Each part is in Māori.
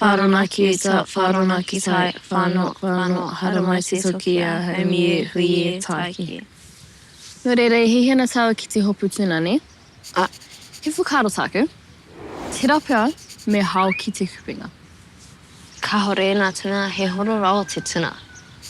Wharonaki uta, wharonaki tai, whano, whano, haramai te toki ia, haumie, huie, taiki. No reira e hihi ana taua ki te hopu tuna, ne? A, he whakaaro taku, tera pea me hao ki te kupenga. Kahore ena tuna, he horo rawa te tuna.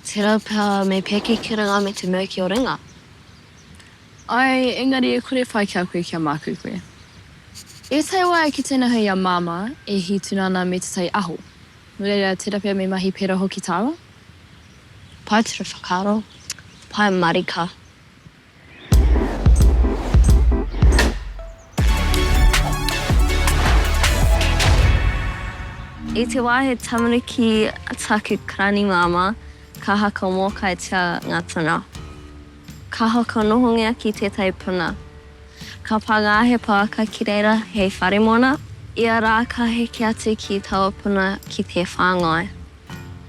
Tera pea me peke ki runga me te mau ki o runga. Ae, engari e kore pai ki a koe kia mākū koe. E tae wā e kite ana hei a Māmā e hī tuna ana me te tai aho. Nō reira, tērā pea me mahi pērā hoki tāua. Pae ture whakaaro, pae marika. I te wā he tamariki taku karani māmā, ka haka mōkaitia ngā tuna. Kaha ka nohongia ki tētahi puna. Ka pānga he pouaka ki reira hei whare mona. Ia rā ka heke atu ki taua puna ki te whāngai.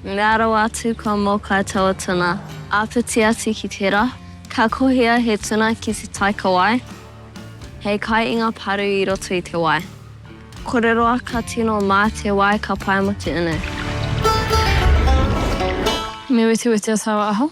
Mea rawa atu kua mōkai taua tuna. Āpiti atu ki tērā, ka kohia he tuna ki te taikawai hei kai i ngā paru i roto i te wai. Kore roa ka tino mā te wai ka pae mā te unu. Me wetewetea taua aho.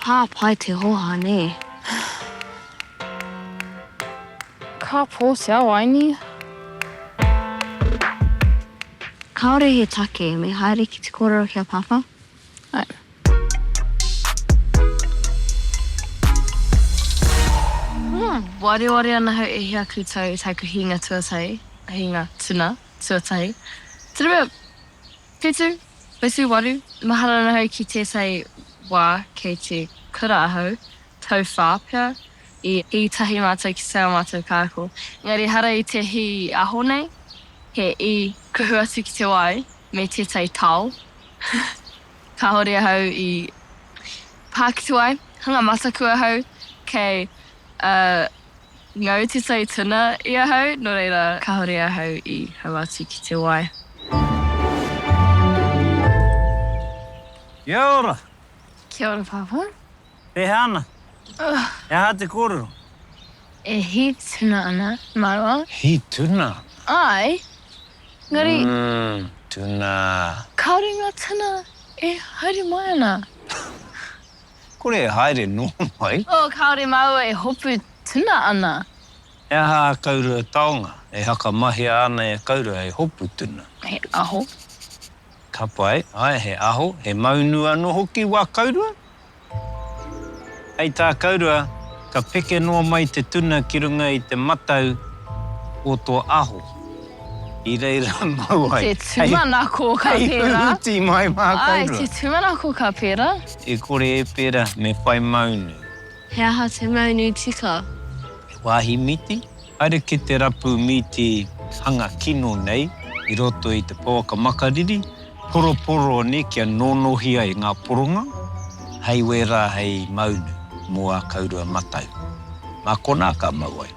Pā pai te hoha nē. Ka pō te ao aini. Kāore he take me haere ki te kōrero ki a Pāpā. Ae. Wareware ana hau e hia koutou i taku hinga tuatahi, hinga tuna tuatahi. Tena mea. Whetū, whetū waru, mahara ahau ki tētahi wā kei te kura ahau, tauwhā pea, i i tahi mātou ki tā mātou kāko. Engari ehara i te hī aho nei, he i kuhu atu ki te wai me tētahi tao, kāore ahau i pā ki te wai, hanga mataku ahau kei Ā, ngau te tai tuna i ahau, nō reira, kāore ahau i hau atu ki te wai. Kia ora! Kia ora, Pāpā. Pēhea ana? He aha te kōrero? E hī tuna ana māua. Hī tuna? Āe, engari. Umm, tuna. Kāore ngā tuna e haere mai ana. Kore e haere nō mai. Oh, kāore māua e hopu tuna ana. He aha a Kaurua taonga? E whakamahia ana e Kaurua hei hopu tuna. He aho. Ka pai, ae, he aho, he maunu anō hoki wā Kaurua. Hei tā Kaurua, ka peke noa mai te tuna ki runga i te matau o tō aho. I reira mau ai. Te tūmanako ka pērā. Hei huruti mai mātou. Āe, te tūmanako ka pērā. E kore e pērā, me whai maunu. He aha te maunu tika? He wāhi mīti? Haere ki te rapu mīti hanga kino nei i roto i te pouaka makariri, poroporo nei kia nōnohi ai ngā poronga, hei wērā hei maunu mō ā kaurua matau. Mā konā ka mau ai.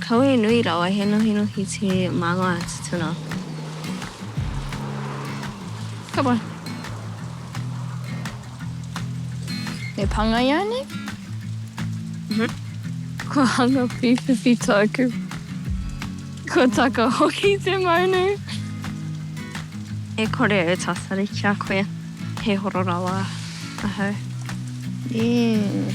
Kawe nui rawa he nohinohi te manga tutuna. Ka pai. Me pangaia nei? Uhmm. Kua hanga pipipi toku. Kua taka hoki te maunu. E kore e tatari ki a koe. He horo rawa ahau. Eeh.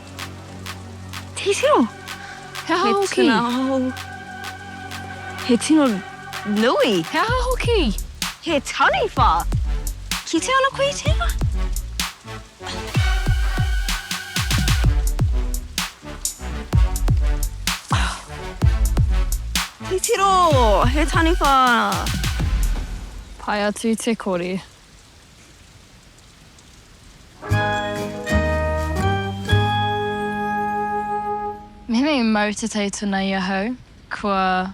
Titiro! He aha hoki? He tuna hou. He tino nui. He aha hoki? He taniwha! Kite ana koe i tēnā? Titiro! He taniwha! Pai atu te kore. Mēnā i mau te tai tuna i ahau, kua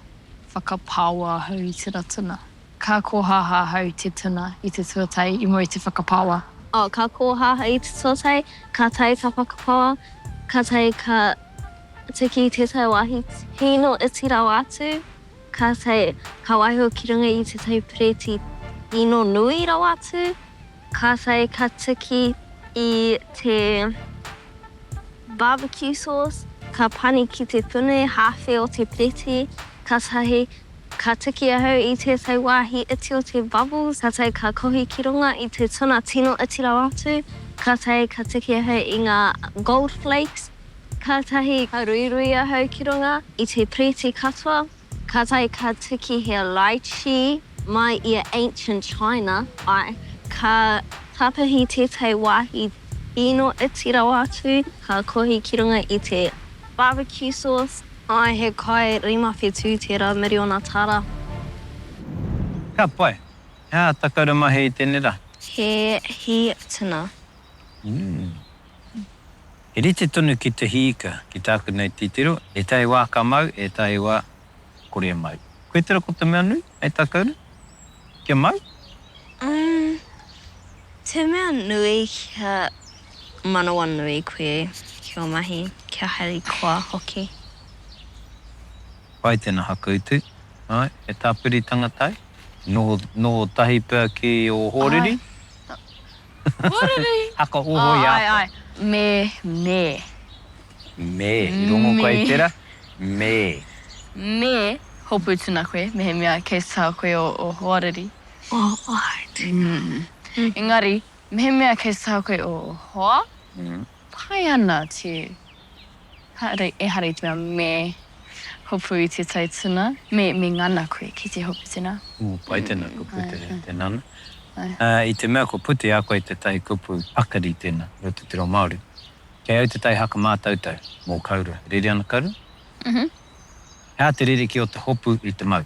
whakapāoa ahau i tērā tuna. Ka kōhāhā ahau i te tuna i te tuatai i mua i te whakapāoa. Oh, ka kōhāhā i te tuatai, ka tae ka whakapāoa, ka tae ka tiki i tētahi wāhi hīno iti rawa atu. Kātahi ka waiho ki runga i tētahi pireti ino nui rawa atu, kātahi ka tiki i te barbecue sauce, ka pani ki te puni hāwhe o te pireti, kātahi ka tiki ahau i tētahi wāhi iti o te bubbles, kātahi ka kohi ki runga i te tuna tino iti rawa atu, kātahi ka tiki ahau i ngā gold flakes. Kātahi ka ruirui ahau ki runga i te piriti katoa, kātahi ka tuki he Lai Chi mai i a Ancient China, āe, ka tapahi tētahi wāhi kino iti rawa atu, ka kohi ki runga i te barbecue sauce, āe, he kai rima whetū tērā miriona tāra. Ka pai. He aha ta kaura mahi i tēnei rā? He hī tuna. Umm. He rite tonu ki te hī ika, ki tāku nei titiro, ētahi wā ka mau, ētahi wā kore e mau. Koe tera ko te mea nui, hei tā kounou? Kia mau? Umm, te mea nui kia manawanui koe ki ō mahi, kia harikoa hoki. Pai tēnā hakautu. Āe, he tāpiritanga tae. Noho, noho tahi pea ki ō hōriri? Āe. Huriri! Haka hoho i a koe. Āe, āe. Me, me. Me, i rongo koe i tērā? Me. Me hopu tuna koe, mehemea kei te taha koe o hoariri. O hoariri. Engari, mehemea kei te taha koe o hoa, pai ana te. Haere, ehara i te mea me hopu i te tai tuna, me, me ngana koe ki te hopu tuna. Ū, pai tēnā, kua pute tēnā ana. Ā, i te mea kua pute a koe te tai kupu pakari tēnā i roto i te reo Māori, kei au te tai haka mātautau mō Kaurua. Rere ana Kaurua? Uhu. He aha te ririki o te hopu i te mau?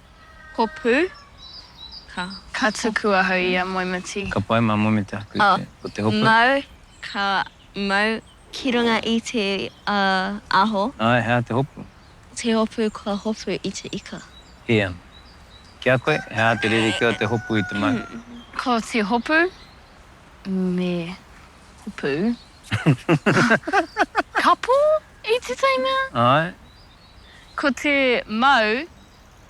Hopu, ka. Ka tuku ahau i a Moemiti. Ka pai mā Moemiti aku i te, ko te hopu. Mau, ka mau. Ki runga i te aho. Ae, hea te hopu? Te hopu kua hopu i te ika. Hea. Ki a koe, hea te rerekē o te hopu i te manu? Ko te hopu, me hopu kapo i te teina. Ae. Ko te mau.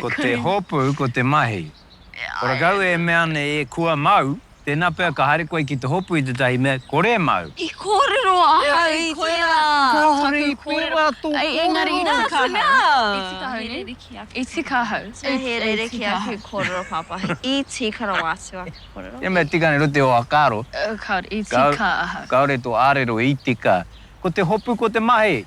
Ko te hopu, ko te mahi. Ko rakau e mea nei e kua mau, tēnā pea ka haere koe ki te hopu i tētahi mea kore e mau. I kōrero ahau i tērā taku kōrero. Engari nā te mea. E tika ahau nei. E tika ahau. E he rerekē aku kōrero pāpā. E tika rawa atu aku kōrero. He mea tika nei rua te whakaaro. Kāore e tika ahau. Kāore tō ārero i tika. Ko te hopu, ko te mahi.